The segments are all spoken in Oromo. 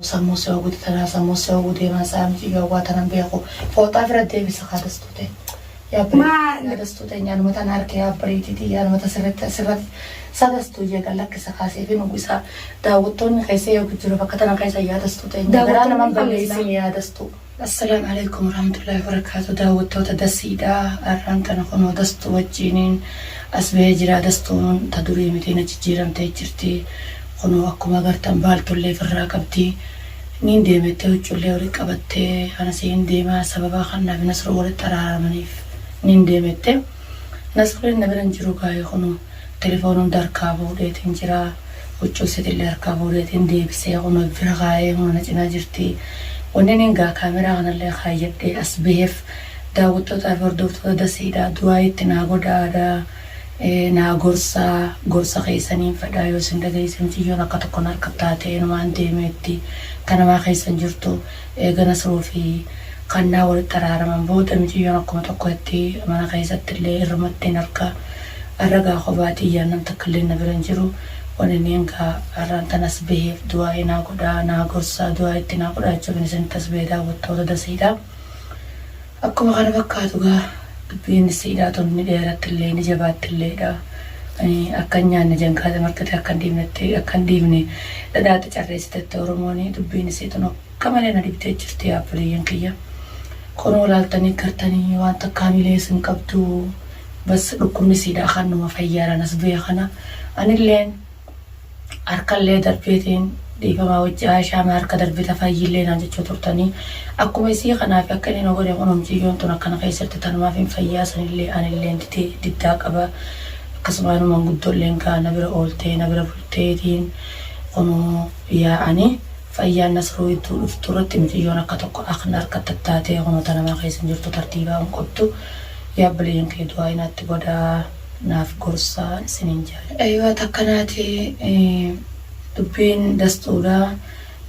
Sammuu si oguti tanaa sammuu si oguu deemaa sa'a miti gawwaa tanan beeku fooxaa fira deebisa kaa dastuu ta'e yaa bari Maal? yaa dastuu ta'e nyaanuma tan harke yaa bariitiiti yaanuma ta sirratti asirratti sa dastuu jeeqan lakkisa kaasee fi nugu isaa daawwattoonni keessa eegu jiru bakka tana keessa yaa dastuu ta'e garaa Daawwattoonni naman kan balleessin yaa dastuu. Assalam Aleykum Warahmatullahi Wabarakatuh Daawwattoota Dasiidha Arraan tana kunoo Dastuu wajjiinin as bahee jira Dastuun ta durii miti na jijjiiramtee jirti kunoo akkuma agartan baaltullee ifirraa qabdi niin deemettee huccullee walitti qabattee anasii hin deemaa sababaa kannaa fi Nasruu walitti araaramaniif niin deemette Nasrulleen na bira hin jiru gaayee kunoo Telefoon hunda harkaa fuudheetiin jira. Huccuu isiitillee harkaa fuudheetiin deebisee kunoo bira kaayee kunoo na cinaa jirti. Wanniniin egaa kaameraa kanallee kaayyadhee as baheef daawwattootaa fi hordoftoota Dasiidhaa du'aayii itti naa godhaadaa, naa gorsaa, gorsa keessaniin fedhaa yoo isin dhageessisan tiyyoon akka tokko na harka taatee inumaan deemee itti ta namaa keessan jirtu. Eega Nasruu fi Kannaa walitti araaraman booda miciyyoon akkuma tokkotti mana keessattillee irrumattiin arga. Arra gaa kophaa tiyya nam takkalleen na bira hin jiru. Waniniin gaa arraan tana as baheef du'aa'ii naa godhaa, naa gorsaa, du'aa'ii itti naa godhaa jechuufin isinitti as bahe daawwattoota Daseedhaa. Akkuma kana fakkaatu egaa dubbiin siidaa tun ni dheerattillee ni jabaattilledha. Ani akka hin nyaanne jankaata marxitee akka hin dhiifnetti akka hin dhiifne dhadhaatti carreessitetti Oromooni dubbiin isii tun akka malee na dhibdee jirti yaa obboleeyyan kiyya. Kunoo laaltanii gartanii waan takka hamilee isin hin qabdu bas dhukkubni siidaa kan numa fayyaadhaan as bu'e kana anilleen Harkallee darbeetiin dhiifama wajji Aishaa maa harka darbita fayyillee naan jechuu turtanii akkuma isii kanaa fi akka inni na godhe kunoo miciyyoon tun akkana keessatti tanumaafin fayyaa sanillee anilleen dide diddaa qaba akkasumaanuu manguddolleen kaa na bira ooltee na bira bulteetiin kunoo yaa ani fayyaan nasruu idduu dhuftu irratti miciyyoon akka tokko akn harka tattaatee kunoo tanamaa keessa hin jirtu tartiibaa hin qabdu yaa obboleeyyan kiyya du'aayi naatti godhaa. naaf gorsaa isiniin jedha. Eywa takka naati dubbiin dastuudha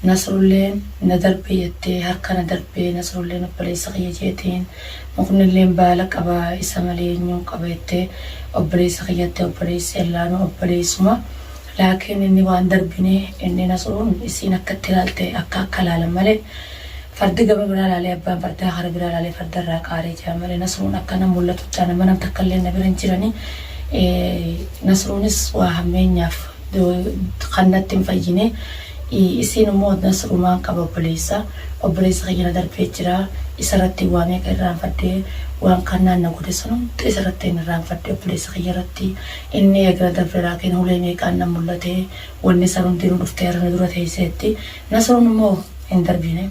nasrulleen na darbe jettee harka na darbee nasrulleen obboleessa kiyya jeetiin muknilleen baala qaba isa malee enyuun qaba jettee obboleessa kiyya jettee obboleessi allaanuu obboleessuma Laakiin inni waan darbine inni Nasruun isiin akka itti laalte akka akka laalan malee fardi gama biraa laalee abbaan fardaa kara biraa laalee farda irraa qaaree jedhan malee Nasruun akka nam mullatuuttaa nama nam takka illee na bira hin jirani Nasruunis waa hammeenyaaf kan natti hin fayyine isiin immoo Nasruumaan qaba obboleessa obboleessi kiyya na darbee jira isa irratti waa meeqa irraanfadhe waan kannaan na godhe san hunda isa irratti hin irraanfadhe obboleessa kiyya irratti Inni eegna dabre Raakiin hulee meeqaan na mul'ate, wonni san hundinuu dhuftee har'a na dura teesseetti. Nasruun immoo hin darbine.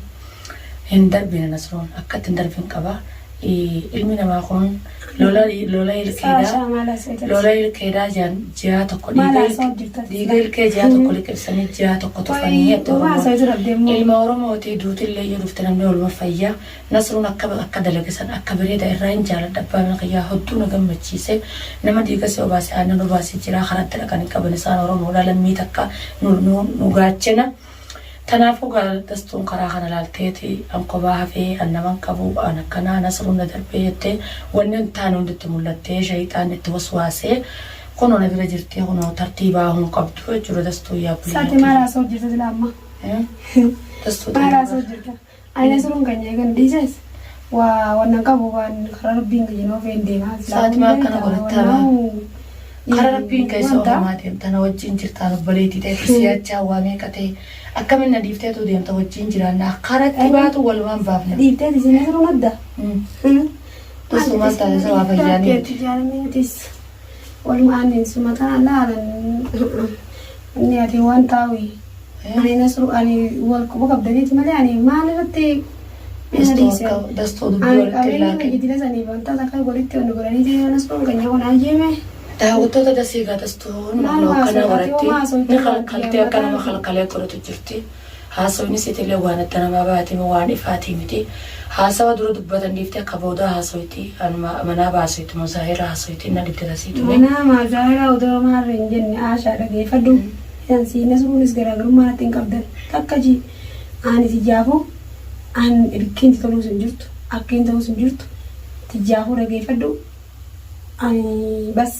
Hin darbine Nasruun. Akkatti hin darbin qaba. Ilmi namaa kun lola lola ilkeedhaa lola ilkeedhaa jaan ji'aa tokko dhiiga ilk- dhiiga ilkee ji'aa tokko liqimsanii ji'aa tokko tufanii jetti Oromoon. Ilma Oromooti duutillee yoo dhufte namni waluma fayya. Nasrun akka akka dalage san akka bereda irraa hin jaaladha abbaa mana kiyyaa hodduu na gammachiise nama diigase obaase aannan obaase jiraa karaa itti dhaqan hin qaban isaan oromoodha lammii takka nu nu nu gaachena tanaafuu gaa gastuun karaa kana laalteeti an kobaa hafee an nama hin qabu an akkanaa nasrun na darbee jette wanni hin taane hundi itti mullattee shayxaanni itti waswaase kunoo na bira jirti kunoo tartii baahuu hin qabdu jechuudha dastuu yaa Saati buleeyyaa maal tiyya haasa'u jirta silaa amma? Eh? dastuu Maal tiyya haasa'u jirta? Ayii nasruun kenya egan dhiises waa wannan qabu waan karaa rabbiin kiyya noo feen deema Sa'aatii maa akkana godhattaa baa? Karaa rabbiin kee isa ofumaa deemta na wajjin jirtaan obboleetii ta'e fi si'achaa waa meeqa ta'e akkamin na dhiifteetuu deemta wajjin jiraannaa karatti baatu walumaan baafna. dhiiftee tisi nasruun adda Tasumaan taasisa waa fayyaanii miti. jaalamiitis Walumaa amin suma ta Allah anan inni ati wan tawi ani nasru ani wal quba qabdaniti male ani maal irratti ina dhiise ani qabeenya biyyi dila saniif wanta takka walitti wanni godhaniti yoo nasruun keenya kun ajjeeme Daawwattoota dasii egaa dastuun Maal nama akkanaa haasofta? Ati warattee homaa haasofta ni baadiyyaa kalkaltee akka nama mataa. kalkalee turutu jirti. Haasawni isiitiillee waan adda namaa bahaati moo waan ifaatii miti. Haasawa dura dubbatan dhiiftee ka boodaa haasoyti. Anuma manaa baasoyti moo Zaahira haasoyti na dhibde tasii tuni. Manaa maal Zaahiraa odoo homaa irra hin jenne Aashaa dhageeyfadhu. Isan sii Nasruunis garaagarummaa natti hin qabdan. Takka ji, aani tiyyaafuu an ilkkiin ti toluus hin jirtu. Akkiin tahuus hin jirtu. Tiyyaafuu dhageeyfadhu. Ani bas.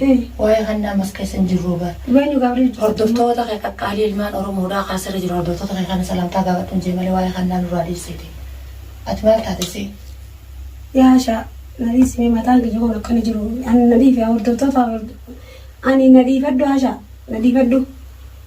Hii. Waa'ee kannaa ammas keessa hin jirruu bar. Dhugaa eenyu gaabrii hojjattu. Hordoftoota kee qaqqaalii ilmaan oromoo dhaa kaa sirri jiru hordoftoota kee kana salaamtaa gaafadhuun jee malee waa'ee kannaa nurraa dhiissiti. Ati maal taate see. Yaa ashaa na dhiisi mee mataan kiyya kun akkana jiru ani na dhiifi yaa hordoftoota ani na dhiifadhu ashaa na dhiifadhu.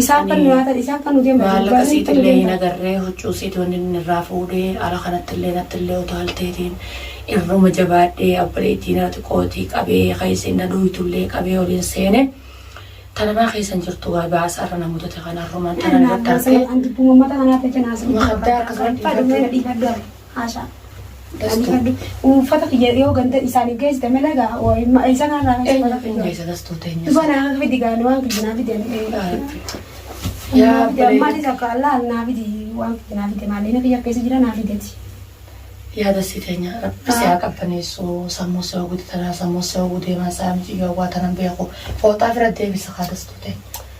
Isaa akka nu nyaatan, isaa akka nu deeman hin Maallaqa siit illee hin agarree, huccuu siit wanni inni irraa fuudhee, ala kanatti illee natti illee utaalteetiin, irruma jabaadhee abboleettii na xiqootii qabee, ka isiin na dhooytu illee qabee ol hin seene. Tana maa keessa hin jirtu gaa baasa irra na mudate kana irrumaan tana irratti argee. Mukaddaa akka kana dhiifadhu. Haasha. Uuffata kiyya yoo ganda isaaniif geessite malee gaa waa'ee isa kanarraa kan Eenyu safara keenya isa dastuu teenya. Dhugaa naa akka fidi gaana waan fidi naa fidi ani Yaa fidi bareeda. ammaati takka allaa naa fidi waan fidi naa fidi maalee na kiyya keessa jira naa fideti. Yaa dastii teenya rabbi si haa qabbaneessu sammuu si hawwiti tanaa sammuu si hawwu deemaa isaa miti yoo waa tanan beeku fooxaa fira deebisa haa dastuu teenya.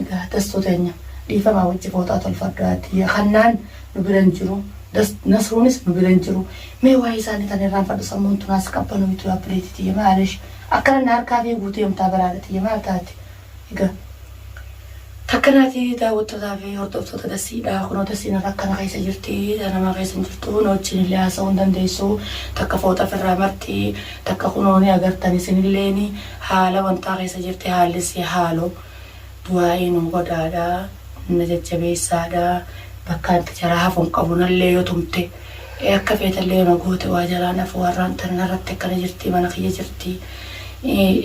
Egaa dastuu teenya dhiifamaa wajji fooxaa tolfadhu ati hannaan nu bira hin jiru das nasruunis nu bira hin jiru mee waa'ee isaanii tan irraanfadhu sammuun tun haas qabbanooytu yaa obboleetii tiyya maalesh akkana na harkaa fiiguu deemtaa bara haadha tiyya maal taate egaa takka naati daawwattootaa fi hordoftoota dasiidha kunoo dasiin irra akkana keessa jirti nama keessa hin jirtu na wajjin illee haasa'uu hin dandeessu takka fooxa firraa marxii takka kunoo ni agartan isin illeeni Haala wantaa keessa jirti haalli si haalu du'aa'ii nuu godhaadha na jajjabeessaadha bakka anti jaraa hafu hin qabu nallee yoo tumte akka feetallee yoo na goote waa jalaan hafu harraan tana narratti akkana jirti mana kiyya jirti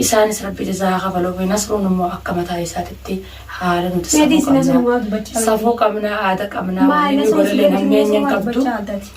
isaanis rabbi jazaa haa kafaluufi nasruun immoo akka mataa isaatitti haala nuti safuu qabna safuu qabna aada qabna waan inni godhallee hammeenyi hin qabdu.